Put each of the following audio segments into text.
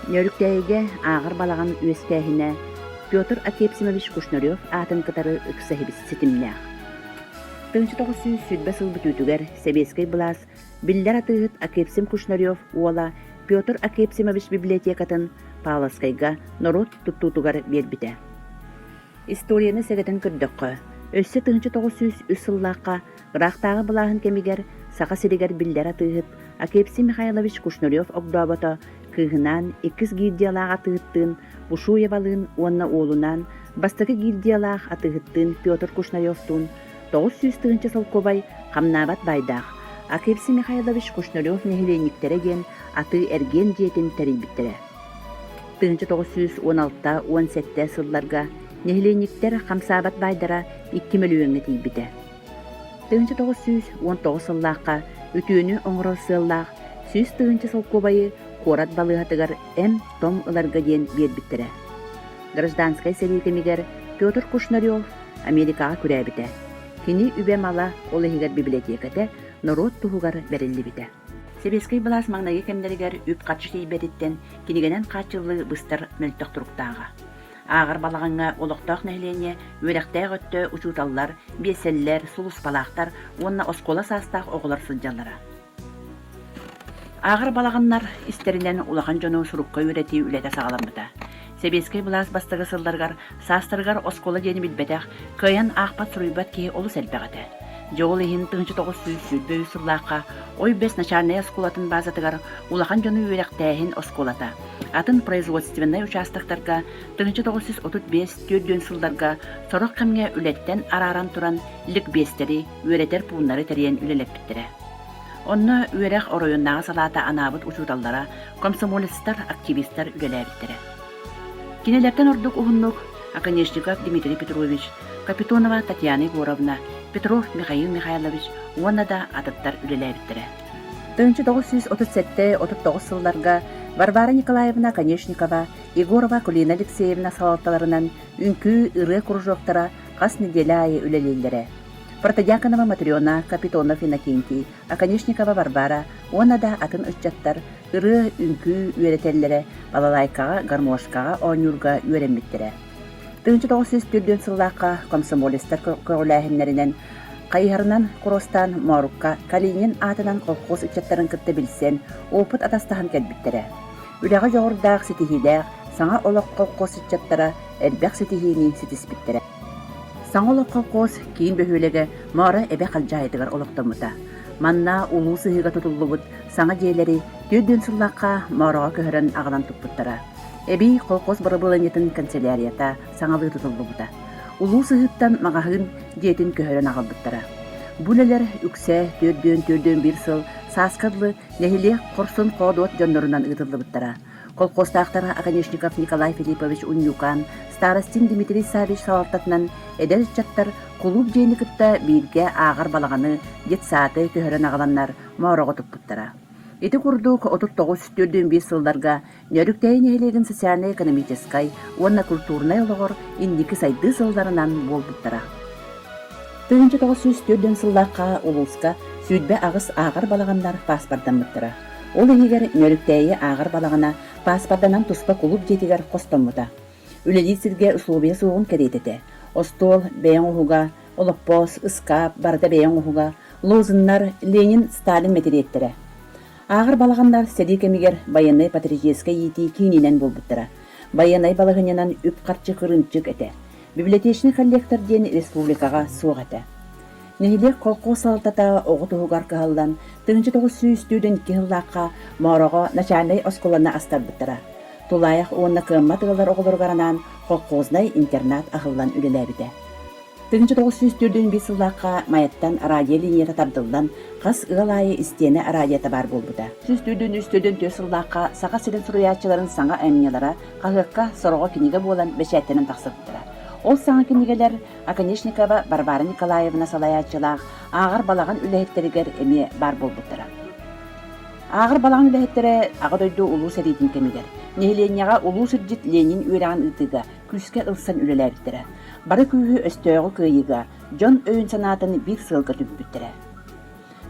Нөөрүктээйигэ ааҕар балаҕан үөскээһинэ Петр Акепсимович Кушнарев аатын кытары ыкса иһибит ситимнээх. Тыынча тоҕус сүүс сүүрбэ сыл бүтүүтүгэр сэбиэскэй былаас биллэр атыыһыт Акепсим Кушнарев уола Петр Акепсимович библиотекатын Павловскайга норуот туттуутугар биэрбитэ. Историяны сэгэтэн көрдөххө, өссө тыһыынча тоҕус сүүс үс сыллаахха ыраахтааҕы былааһын кэмигэр Саха сиригэр биллэр атыыһыт Акепси Михайлович Кушнарев-Огдообото кыыһынаан иккис гильдиялаах атыыһыттыын Бушуевалыын уонна уолунаан бастакы гильдиялаах атыыһыттыын Петр Кушнаревтуун тоҕус сүүс тыһыынча солкуобай хамнаабат баайдаах Акепси Михайлович Кушнарев нэһилиэнньиктэрэ диэн атыы-эргиэн дьиэтин тэрийбиттэрэ. тыһыынча тоҕус сүүс уон алта уон сэттэ сылларга нэһилиэнньиктэр хамсаабат баайдара икки мөлүйүөҥҥэ тиийбитэ. Тыһыынча тоҕус сүүс уон тоҕус сыллаахха үтүөнү оҥорор сыаллаах сүүс тыһыынча солкуобайы куорат балыыһатыгар эм-том ыларга диэн биэрбиттэрэ. Гражданскай сэрии кэмигэр Петр Кушнарев Америкаҕа күрээбитэ. Кини үбэ-мала ол иһигэр библиотеката норуот туһугар бэриллибитэ. Сэбиэскэй былаас маҥнайгы кэмнэригэр үп-харчы тиийбэтиттэн кинигэнэн хааччыллыы быстар мөлтөх туруктааҕа. Ааҕар балаҕаҥҥа олохтоох нэһилиэнньэ, үөрэхтээх өттө учууталлар, биэлсэллэр, сулууспалаахтар уонна оскуола саастаах оҕолор сылдьаллара. Ааҕар балаҕаннар истэринэн улахан дьону сурукка үөрэтии үлэтэ саҕаламмыта. Сэбиэскэй былаас бастакы сылларыгар саастарыгар оскуола диэни билбэтэх, кыайан аахпат-суруйбат киһи олус элбэх этэ. Дьэ ол иһин тыһыынча тоҕус сүүс сүүрбэ үс сыллаахха Ой-Бэс начальнай оскуолатын баазатыгар улахан дьону үөрэхтээһин оскуолата, атын производственнай учаастактарга тыһыынча тоҕус сүүс отут биэс түөрт сылларга сорох кэмҥэ үлэттэн арааран туран ликбиэстэри, үөрэтэр пууннары тэрийэн үлэлэппиттэрэ. Онно үөрэх оройуоннааҕы салаата анаабыт учууталлара, комсомолецтар, активистар үлэлээбиттэрэ. Кинилэртэн ордук уһуннук Оконешников Дмитрий Петрович, Капитонова Татьяна Егоровна, Петров Михаил Михайлович уонна да атыттар үлэлээбиттэрэ. Тыһыынча тоҕус сүүс отут сэттэ отут тоҕус сылларга Варвара Николаевна Конешникова, Егорова Кулина Алексеевна салалталарынан үҥкүү, ырыа кружоктара хас нэдиэлэ аайы үлэлииллэрэ. Протодьяконова Матрена, Капитонов Иннокентий, Оконешникова Варвара уонна да атын ыччаттар ырыа-үҥкүү үөрэтэллэрэ, балалайкаҕа, гармошкаҕа оонньуурга үөрэммиттэрэ. Тыһыынча тоҕус сүүс төрдүөн сыллаахха комсомолецтар көҕүлээһиннэринэн хайыһарынан куруостаан Моорукка Калинин аатынан колхоз ыччаттарын кытта билсэн, опыт атастаһан кэлбиттэрэ. Үлэҕэ дьоҕурдаах, ситиһиилээх, саҥа олох колхоз ыччаттара элбэх ситиһиини ситиспиттэрэ. Саҥа олоххо Куос киин бөһүөлэгэ Мыара эбэ халдьаайытыгар олохтоммута. Манна улуус ыһыыга тутуллубут саҥа дьиэлэри түөрт дьон сыллаахха Моораҕа көһөрөн аҕалан туппуттара. Эбии колхоз бырабыыланньатын канцелярията саҥалыы тутуллубута. Улуус ыһыыттан маҕаһыын дьиэтин көһөрөн аҕалбыттара. Бу үлэлэр үксэ төрдүөн-төрдүөн биир сыл сааска дылы нэһилиэк хорсун-хоодуот дьоннорунан ыытыллыбыттара. Колхозтаахтара Оконешников Николай Филиппович Унньукаан, старостин Дмитрий Саввич салалтатынан эдэр ыччаттар кулууп дьиэни кытта бииргэ ааҕар балаҕаны, детсады көһөрөн аҕаланнар моороҕо туппуттара. Ити курдук отут тоҕус биэс сылларга Нөрүктэйи нэһилиэгин социальнай-экономическай уонна культурнай олоҕор инники сайдыы сылларынан буолбуттара. Тыһыынча тоҕус сүүс түөртүн сыллаахха улууска сүүрбэ аҕыс ааҕар балаҕаннар паспортаммыттара. Ол иһигэр Нөрүктээйи ааҕар балаҕана пааспарданан туспа кулууп дьиэтигэр хостоммута. Үлэлиир сиргэ усулуобуйа суоҕун кэриэтэ этэ. Остуол бэйэ оҥоһуга, олоппоос, ыскаап, барыта бэйэ оҥоһуга, лозуннар, Ленин, Сталин мэтириэттэрэ. Ааҕар балаҕаннар сэрии кэмигэр байыаннай патриотическай иитии киининэн буолбуттара. Байыаннай балаһыанньанан үп-харчы кырыымчык этэ. Библиотечный коллектор диэн республикаҕа суох этэ. Нэһилиэк колхоз салалтата оҕо туһугар кыһаллан, тыһыынча тоҕус сүүс студент икки сыллаахха Мороҕо начальнай оскуоланы астарбыттара. Тулаайах уонна кыаммат ыаллар оҕолоругар анаан колхознай интернат аһыллан үлэлээбитэ. Тыһыынча тоҕус сүүс төрдүн биир сыллаахха Майаттан радиолинията тардыллан, хас ыал аайы истиэнэ радиота баар буолбута. Сүүс төрдүн үс төрдүн төрт сыллаахха Саха сирин суруйааччыларын саҥа айымньылара Хаһыакка сороҕо кинигэ буолан бэчээттэнэн тахсыбыттара. Ол саҥа кинигэлэр Оконешникова Варвара Николаевна салайааччылаах ааҕар балаҕан үлэһиттэригэр эмиэ баар буолбуттара. Ааҕар балаҕан үлэһиттэрэ Аҕа дойду улуу сэриитин кэмигэр нэһилиэнньэҕэ улуу сирдьит Ленин үөрэҕин ыытыыга күүскэ ылсан үлэлээбиттэрэ. Бары күүһү өстөөҕү кыайыыга, дьон өйүн-санаатын биир сыалга түмпүттэрэ.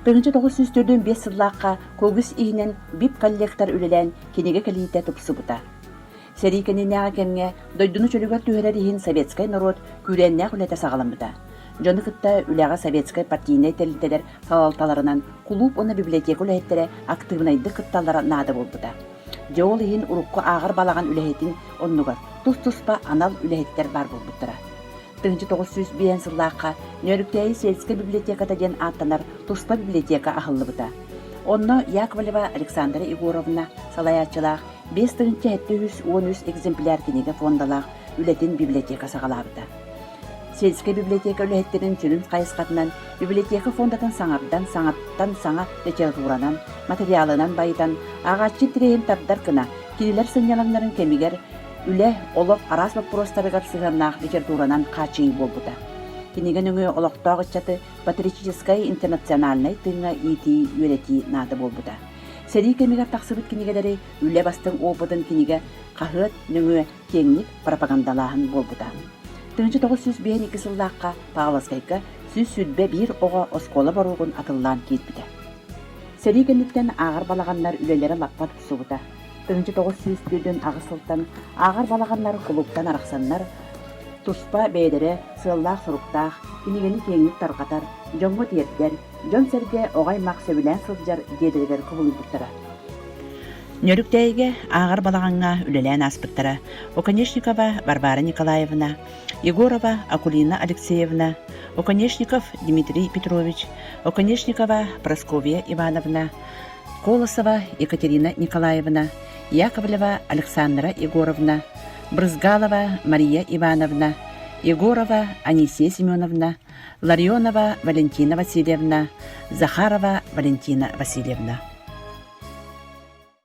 1994 5 сыллаахха кылгыс иһинэн бип-коллектор үлэлээн кинигэ кэлиитэ тупсубута. Сэрии кэннинээҕи кэмҥэ дойдуну чөлүгэр түһэрэр иһин советскай норуот күүрээннээх үлэтэ саҕаламмыта. Дьону кытта үлэҕэ советскай партийнай тэрилтэлэр салалталарынан кулууп уонна библиотека үлэһиттэрэ актыыбынайдык кытталлара наада буолбута. Дьэ ол иһин урукку ааҕар балаҕан үлэһитин оннугар тус-туспа анал үлэһиттэр баар буолбуттара. 1905 сыллаахха Нөөрүктээйи сельскай библиотеката диэн ааттанар туспа библиотека аһыллыбыта. Онно Яковлева Александра Егоровна салайааччылаах 5 тыһыынча 713 экземпляр кинигэ фондалаах үлэтин библиотека саҕалаабыта. Сельскэй библиотека үлэһиттэрин сүрүн хайысхатынан библиотека фондатын саҥардан, саҥаттан саҥа литературанан, материалынан байытан, ааҕааччы тирэйин тардар гына кинилэр сынньалаҥнарын кэмигэр Үлэ, олох араас боппуруостарыгар сыһыаннаах литературанан хааччыйыы буолбута. Кинигэ нөҥүө олохтоох ыччаты патриотическай интернациональнай тыыҥҥа иитии, үөрэтии наада буолбута. Сэрии кэмигэр тахсыбыт кинигэлэри үлэ бастыҥ опытын кинигэ хаһыат нөҥүө киэҥник пропагандалааһын буолбута. 1952 сыллаахха Павловскайга сүүс сүүрбэ биир оҕо оскуола боруогун атыллаан киирбитэ. Сэрии кэнниттэн ааҕар балаҕаннар үлэлэрэ лаппа тупсубута. тыһыынча тоҕус сүүс тыытын аҕыс сылтан ааҕар балаҕаннар кулуктан арахсаннар туспа бэйэлэрэ сыаллаах-соруктаах, кинигэни киэҥник тарҕатар, дьоҥҥо тиэрдэр, дьон-сэргэ оҕо-аймах сөбүлээн сылдьар дьиэлэригэр кубулуйбуттара. Нөрүктээйигэ ааҕар балаҕаҥҥа үлэлээн ааспыттара Оконешникова Варвара Николаевна, Егорова Акулина Алексеевна, Оконешников Дмитрий Петрович, Оконешникова Прасковья Ивановна, Колосова Екатерина Николаевна, Яковлева Александра Егоровна, Брызгалова Мария Ивановна, Егорова Анисия Семеновна, Ларионова Валентина Васильевна, Захарова Валентина Васильевна.